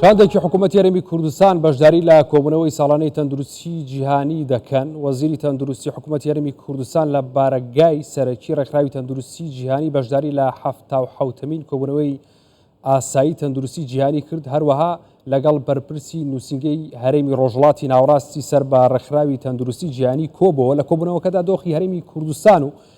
شاندێکی حکوومەت یارمی کوردستان بەشداری لە کۆبوونەوەی ساڵانەی تەندروستی جیهانی دەکەن وەزیری تەندروستی حکوومەت یارمی کوردستان لە بارەگای سەرەکی ڕێکخراوی تەندروستی جیهانی بەشداری لە هەفتا و حوتمین کۆبوونەوەی ئاسایی تەندروستی جیهانی کرد هەروەها لەگەڵ بەرپرسی نووسنگەی هەرێمی ڕۆژڵاتی ناوڕاستی سەر بە ڕێکخراوی تەندروستی جیهانی کۆبەوە لە کۆبوونەوەکەدا دۆخی هەرێمی کوردستان و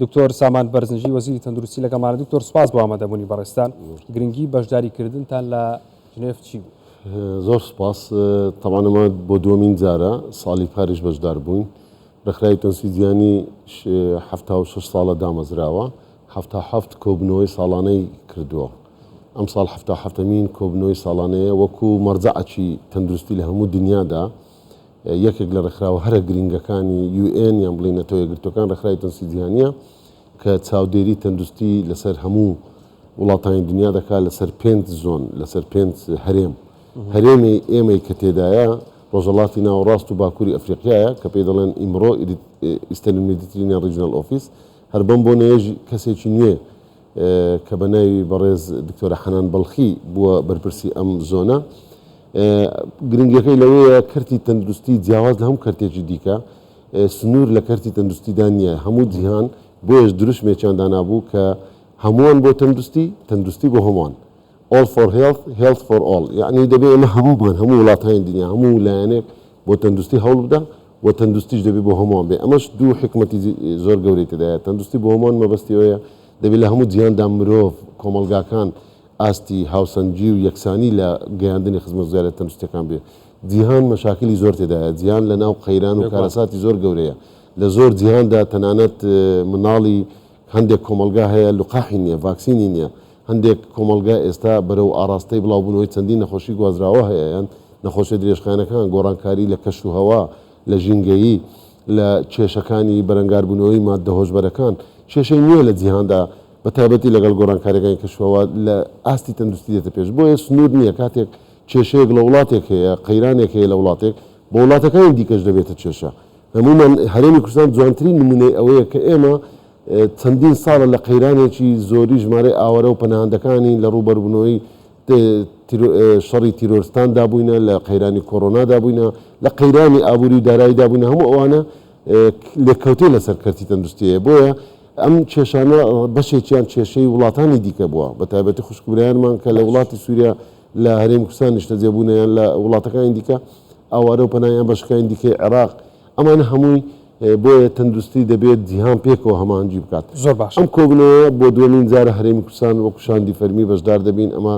دکتۆر سامان بەرزنجی وەزیری تەندروستی لەگەڵمانە دکتۆر سپاس بۆ ئامادەبوونی بەڕێزتان گرنگی بەشداری کردنتان لە جنێف چی بوو؟ زۆر سپاس تەمان ئەمە بۆ دووەمین جارە ساڵی پاریش بەشدار بووین ڕێکخراوی تەنسی جیانی حەفتا و شەش ساڵە دامەزراوە حەفتا حەفت کۆبنەوەی ساڵانەی کردووە ئەم ساڵ حەفتا حەفتەمین کۆبنەوەی ساڵانەیە وەکو مەرجەعەکی تەندروستی لە هەموو دنیادا یەکێک لە ڕێکخراوە هەرە گرینگەکانی یو ئێن یان بڵێین نەتەوە یەکگرتووەکان ڕێکخراوی تەندستی جیهانییە کە چاودێری تەندوستی لەسەر هەموو وڵاتانی دنیا دەکات لەسەر پێنج زۆن لەسەر پێنج هەرێم هەرێمی ئێمەی کە تێدایە ڕۆژەڵاتی ناوەڕاست و باکووری ئەفریقیایە کە پێی دەڵێن ئیمڕۆ ئیستەرن میدیترینە ڕیجنەل ئۆفیس هەر بەم بۆنەیەش کەسێکی نوێ کە بە ناوی بەڕێز دکتۆرە حەنان بەڵخی بووە بەرپرسی ئەم زۆنە گرنگەکەی لەوەیە کەرتی تەندروستی جیاواز لە هەموو کەرتێکی دیکە سنوور لە کەرتی تەندروستیدا نییە هەموو جیهان بۆیەش دروشمێکیان دانابوو کە هەمووان بۆ تەندروستی تەندروستی بۆ هەمووان All for Health، Health for All، یەعنی دەبێ ئێمە هەموومان، هەموو وڵاتانی دنیا، هەموو لایەنێک بۆ تەندروستی هەوڵبدا و تەندروستیش دەبێ بۆ هەمووان بێ، ئەمەش دوو حیکمەتی زۆر گەورەی تێدایە، تەندروستی بۆ هەمووان مەبەستی ئەوەیە دەبێ لە هەموو جیهاندا مرۆڤ، کۆمەڵگاکان ئاستی هاوسەنگی و یەکسانی لە گەیاندنی خزمەتگوزارییە تەندروستییەکان بێ، جیهان مەشاکلی زۆر تێدایە، جیهان لەناو قەیران و کارەساتی زۆر گەورەیە، لە زۆر جیهاندا تەنانەت مناڵی هەندێک کۆمەڵگا هەیە لقاحی نییە، ڤاکسینی نییە، هەندێک کۆمەڵگا ئێستا بەرەو ئاڕاستەی بڵاوبوونەوەی چەندین نەخۆشی گوازراوە هەیەیان، نەخۆشیە درێژخایەنەکان، گۆڕانکاری لە کەش و هەوا، لە ژینگەیی، لە کێشەکانی بەرەنگاربوونەوەی ماددە هۆشبەرەکان. کێشەی نوێ لە جیهاندا بە تایبەتی لەگەڵ گۆڕانکاریەکانی کەش و هەوا لە ئاستی تەندروستی دێتە پێش. بۆیە سنوور نیە کاتێک کێشەیەک لە وڵاتێک هەیە، قەیرانێک هەیە لە وڵاتێک، بۆ وڵاتەکانی دیکەش دەبێتە کێشە. هەموومان، هەرێمی کوردستان جوانترین نموونەی ئەوەیە کە ئێمە، چەندین ساڵە لە قەیرانێکی زۆری ژمارەی ئاوارە و پەناهەندەکانی لە ڕووبەروبوونەوەی شەڕی تیرۆرستاندا بووینە، لە قەیرانی کۆرۆنادا بووینە، لە قەیرانی ئابووری و داراییدا بووینە، هەموو ئەوانە لێکەوتەی لەسەر کەرتی تەندروستی هەیە، بۆیە ئەم کێشانە بەشێکیان کێشەی وڵاتانی دیکە بووە، بەتایبەتی خوشک و برایانمان کە لە وڵاتی سووریا لە هەرێمی کوردستان نیشتەجێ بوونە یان لە وڵاتەکانی دیکە ئاوارە و پەنایان بە شکانی دیکەی عێراق، ئەمانە هەمووی بۆیە تەندروستی دەبێت جیهان پێکەوە هەماهەنگی بکات. زۆر باش. ئەم کۆبوونەوەیە بۆ دووەمین جارە هەرێمی کوردستان وەکو شاندی فەرمی بەشدار دەبین، ئەمە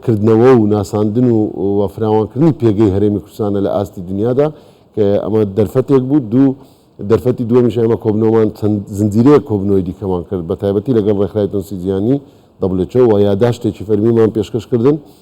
کردنەوە و ناساندن و و فراوانکردنی پێگەی هەرێمی کوردستانە لە ئاستی دنیادا کە ئەمە دەرفەتێک بوو دوو دەرفەتی دووەمیش ئێمە کۆبنەوەمان چەند زنجیرەیە کۆبنەوەی دیکەمان کرد بە تایبەتی لەگەڵ ڕێکخرای تونسی جیهانی دەبلێچەوە یاداشتێکی فەرمیمان پێشکەش کردن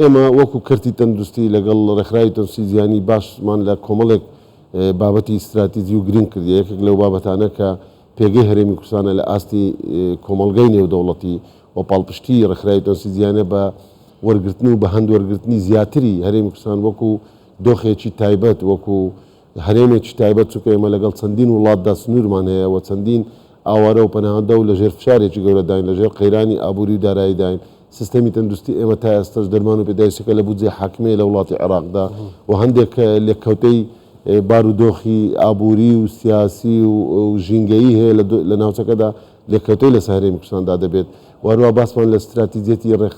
ئێمە وەکو کەرتی تەندروستی لەگەڵ ڕێکخراوی تەندروستی جیهانی باسمان لە کۆمەڵێک بابەتی ستراتیجی و گرنگ کردیە، یەکێک لەو بابەتانە کە پێگەی هەرێمی کوردستانە لە ئاستی کۆمەڵگای نێودەوڵەتی و پاڵپشتی ڕێکخراوی تەندروستی جیهانە بە وەرگرتن و بەهەند وەرگرتنی زیاتری هەرێمی کوردستان وەکو دۆخێکی تایبەت وەکو هەرێمێکی تایبەت، چونکە ئێمە لەگەڵ چەندین وڵاتدا سنوورمان هەیە و چەندین ئاوارە و پەناهەندە و لەژێر فشارێکی گەورەداین، لەژێر قەیرانی ئابووری و داراییداین، سیستەمی تەندروستی ئێمە تا ئێستەش دەرمان و پێداویستیەکە لە بودجەی حاکمیە لە وڵاتی عێراقدا و هەندێک لێککەوتەی بارودۆخی ئابووری و سیاسی و ژینگەیی هەیە لە ناوچەکەدا، لێکەوتەی لەسەر هەرێمی کوردستاندا دەبێت و هەروەها باسمان لە ستراتیجیەتی ڕێک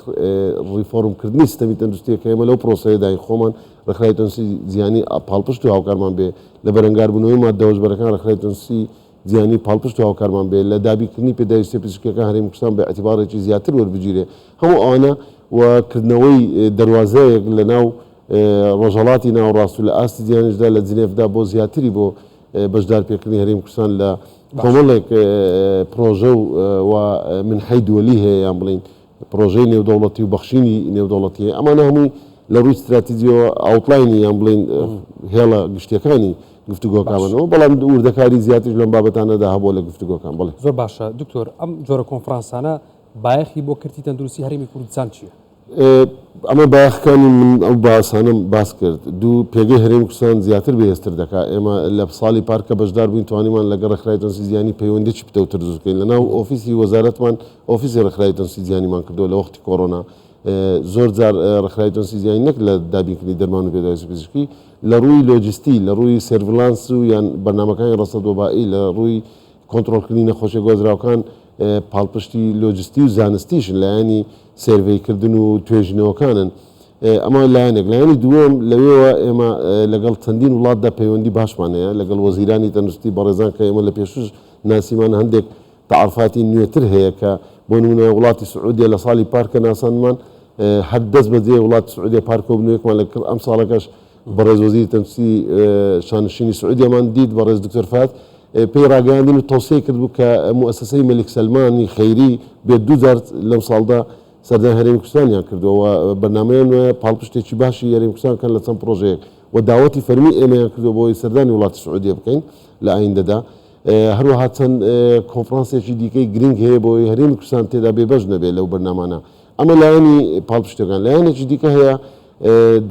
ڕیفۆرمکردنی سیستەمی تەندروستییە کە ئێمە لەو پرۆسەیەداین خۆمان ڕێکخراوی تەندروستی جیهانی پاڵپشت و هاوکارمان بێ لە بەرەنگاربوونەوەی ماددە هۆشبەرەکان ڕێکخراوی تەندروستی جیهانی پاڵپشت و هاوکارمان بێ لە دابینکردنی پێداویستیە پزیشکیەکان هەرێمی کوردستان بە ئەتیباڕێکی زیاتر وەربگیرێ هەموو ئەوانە و کردنەوەی دەروازەیەک لەناو ڕۆژهەڵاتی ناوەڕاست و لە ئاستی جیهانیشدا لە جنێفدا بۆ زیاتری بۆ بەشدارپێکردنی هەرێمی کوردستان لە کۆمەڵێک پڕۆژە و منحەی دوەلی هەیە یان بڵێین پڕۆژەی نێودەوڵەتی و بەخشینی نێودەوڵەتی هەیە ئەمانە هەمووی لە ڕووی ستراتیجیەوە ئاوتڵینی یان بڵین هێڵە گشتەکانی گفتوگۆکانەوە بەڵام وردەکاری زیاترش لەم بابەتانەدا هەبوو لە گفتوگۆکان بڵێ زۆر باشە دکتۆر ئەم جۆرە کۆنفرانسانە بایەخی بۆ کردی تەندروستی هەرمی کوردستان چییە؟ ئەمە بایەخەکانی من ئەو باسانەم باس کرد. دوو، پێگەی هەرێمی کوردستان زیاتر بەهێزتر دەکات. ئێمە لە ساڵی پار کە بەشدار بووین توانیمان لەگەڵ ڕێکخراوی تەندروستی جیهانی پەیوەندییەکی پتەوتر دروست بکەین. لەناو ئۆفیسی وەزارەتمان ئۆفیسی ڕێکخراوی تەندروستی جیهانیمان کردووە لە وەختی کۆرۆنا. زۆر جار ڕێکخراوی تەندروستی جیهانی نەک لە دابینکردنی دەرمان و پێداویستی پزیشکی، لە ڕووی لۆجستی، لە ڕووی سێرڤلانس و یان بەرنامەکانی ڕەسەد وەبائی، لە ڕووی کۆنترۆڵکردنی نەخۆشییە گوازراوەکان، پاڵپشتی لۆجستی و زانستیشن لایەنی سێرڤەی کردن و توێژینەوەکانن. ئەمە لایەنێک. لایەنی دووەم، لەوێوە ئێمە لەگەڵ چەندین وڵاتدا پەیوەندی باشمان هەیە، لەگەڵ وەزیرانی تەندروستی بەڕێزان کە ئێمە لە پێشووش ناسیمان، هەندێک تەعەروفاتی نوێتر هەیە کە بۆ نموونە وڵاتی سعودیە لە ساڵی پار کە ناساندمان هەر دەست بەجێ وڵاتی سعودیە پار کۆبوونەوەیەکمان لە کڕ ئەمساڵەکەش بەڕێز وەزیری تەندوستی شانشینی سعودیەمان دیت بەڕێز دکتۆر فەهد پێی ڕاگەیاندین و تەوسیەی کردبوو کە موسسەی مەلیک سەلمانی خەیری بێت دوو جار لەم ساڵدا سەردانی هەرێمی کوردستانیان کردووە و بەرنامەیان وایە پاڵپشتێکی باشی هەرێمی کوردستان بکەن لە چەند پڕۆژەیەک و داوەتی فەرمی ئێمەیان کردووە بۆ ئەوەی سەردانی وڵاتی سعودیە بکەین لە ئایندەدا هەروەها چەند کۆنفرانسێکی دیکەی گرنگ هەیە بۆ ئەوەی هەرێمی کوردستان تێدا بێبەش نەبێت لەو بەرنامانە ئەمە لایەنی پاڵپشتەکان لایەنێکی دیکە هەیە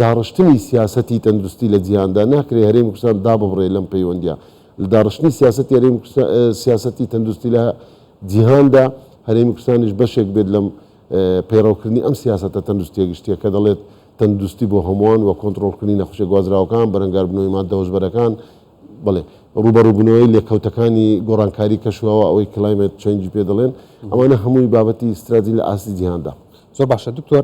داڕشتنی سیاسەتی تەندروستی لە جیهاندا، ناکرێت هەرێمی کوردستان داببڕێت لەم پەیوەندییە. لە داڕشتنی سیاسەتی هەرێمی کوردستان، سیاسەتی تەندروستی لە جیهاندا، هەرێمی کوردستانیش بەشێک بێت لەم پەیڕەوکردنی ئەم سیاسەتە تەندروستییە گشتییە کە دەڵێت تەندروستی بۆ هەمووان و کۆنتڕۆڵکردنی نەخۆشییە گوازراوەکان، بەرەنگاربوونەوەی ماددە هۆشبەرەکان، بەڵێ ڕووبەڕووبوونەوەی لێکەوتەکانی گۆڕانکاری کەش و هەوا، ئەوەی Climate Change پێ دەڵێن، ئەمانە هەمووی بابەتی ستراتژین لە ئاستی جیهاندا. زۆر باشە دکتۆر.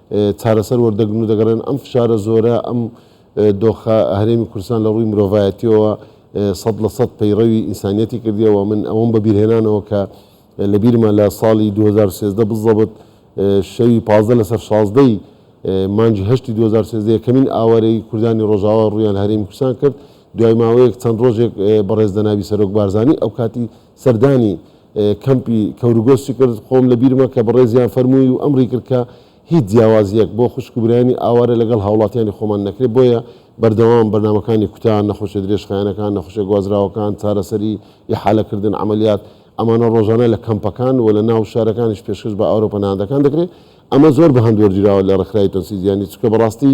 چارەسەر وەردەگرن و دەگەڕێن، ئەم فشارە زۆرە، ئەم دۆخە هەرێمی کوردستان لە ڕووی مرۆڤایەتییەوە سەد لە سەد پەیڕەوی ئینسانییەتی کردیە و من ئەوەم بە بیرهێنانەوە کە لە بیرمە لە ساڵی دوو هەزار و سێزدە بزەبت شەوی پازدە لە سەر شازدە ی مانگی هەشتی دوو هەزار و سێزدە یەکەمین ئاوارەی کوردانی ڕۆژاوا ڕوویان لە هەرێمی کوردستان کرد، دوای ماوەیەک چەند ڕۆژێک بەڕێز جەنابی سەرۆک بارزانی ئەوکاتی سەردانی کەمپی کەورگۆسچ کرد، خۆم لە بیرمە کە بەڕێزیان فەرمووی و ئەمری کرد کە هیچ جیاوازییەک بۆ خوشک و برایانی ئاوارە لەگەڵ هاوڵاتیانی خۆمان نەکرێت، بۆیە بەردەوام بەرنامەکانی کوتا، نەخۆشیە درێژخایەنەکان، نەخۆشیە گوازراوەکان، چارەسەری، ئیحالە کردن، عەمەلیات، ئەمانە ڕۆژانە لە کەمپەکان و لە ناو شارەکانیش پێشکەش بە ئاوارە و پەناهەندەکان دەکرێت، ئەمە زۆر بە هەند وەرگیراوە لە ڕێکخراوی تەنسیجیانی، چونکە بەڕاستی.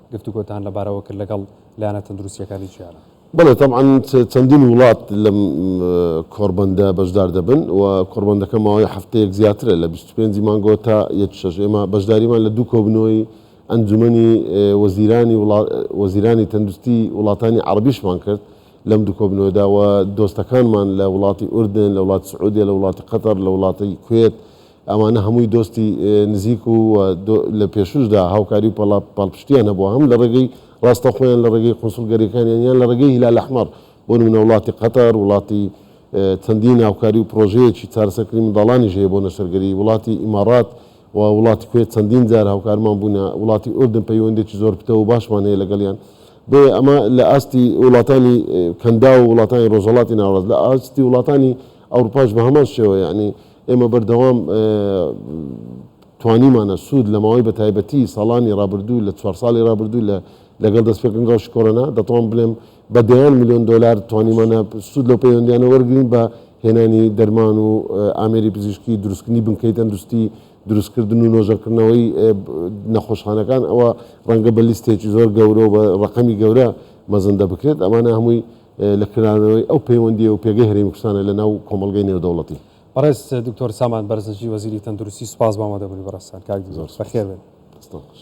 گفتوگۆتان لەبارەوە کرد لەگەڵ لایەنە تەندروستییەکانی جیهان؟ بەڵێ تەبعەن چەندین وڵات لەم کۆڕبەندە بەشدار دەبن و کۆڕبەندەکە ماوەی هەفتەیەک زیاترە لە بیست و پێنج ی مانگەوە تا یەک شەش ئێمە بەشداریمان لە دوو کۆبنەوەی ئەنجومەنی وەزیرانی وەزیرانی تەندروستی وڵاتانی عەڕەبیشمان کرد لەم دوو کۆبنەوەدا و دۆستەکانمان لە وڵاتی ئوردن لە وڵاتی سعودیە لە وڵاتی قەتەڕ لە وڵاتی کوێت ئەوانە هەمووی دۆستی نزیک و لە پێشووشدا هاوکاری و پاڵپشتییان هەبووە هەم لە ڕێگەی ڕاستەوخۆیان لە ڕێگەی قونسوڵگەرییەکانیان یان لە ڕێگەی هیلال ئەحمەڕ، بۆ نموونە وڵاتی قەتەر، وڵاتی چەندین هاوکاری و پڕۆژەیەکی چارەسەرکردنی منداڵانیش هەیە بۆ نەشتەرگەری، وڵاتی ئیماڕات و وڵاتی کوێت چەندین جار هاوکارمان بوونە، وڵاتی ئوردن پەیوەندییەکی زۆر پتەو و باشمان هەیە لەگەڵیان. بۆیە ئەمە لە ئاستی وڵاتانی کەنداو و وڵاتانی ڕۆژهەڵاتی ناوەڕاست، لە ئاستی وڵاتانی ئەوروپاش بە هەمان شێوە یەعنی ئێمە بەردەوام توانیمانە سوود لە ماوەی بەتایبەتی ساڵانی رابردوو لە چوار ساڵی رابردوو لە لەگەڵ دەستپێکردنی رەوشی کۆرۆنا دەتوانم بڵێم بە دەیان میلیۆن دۆلار توانیمانە سوود لەو پەیوەندیانە وەرگین بە هێنانی دەرمان و ئامێری پزیشکی دروستکردنی بنکەی تەندروستی دروستکردن و نۆژەنکردنەوەی نەخۆشخانەکان ئەوە ڕەنگە بە لیستێکی زۆر گەورە و بە ڕقەمی گەورە مەزەندە بکرێت ئەمانە هەمووی لە کرانەوەی ئەو پەیوەندی و پێگەی هەرێمی کوردستانە لە ناو کۆمەڵگەی نێودەوڵەتی. بەڕێز دکتۆر سامان بەرزنجی وەزیری تەندروستی سوپاس بۆ ئامادەبونی بەڕێزتان کاک دکتۆر. بەخێربێن. دەستان خۆش.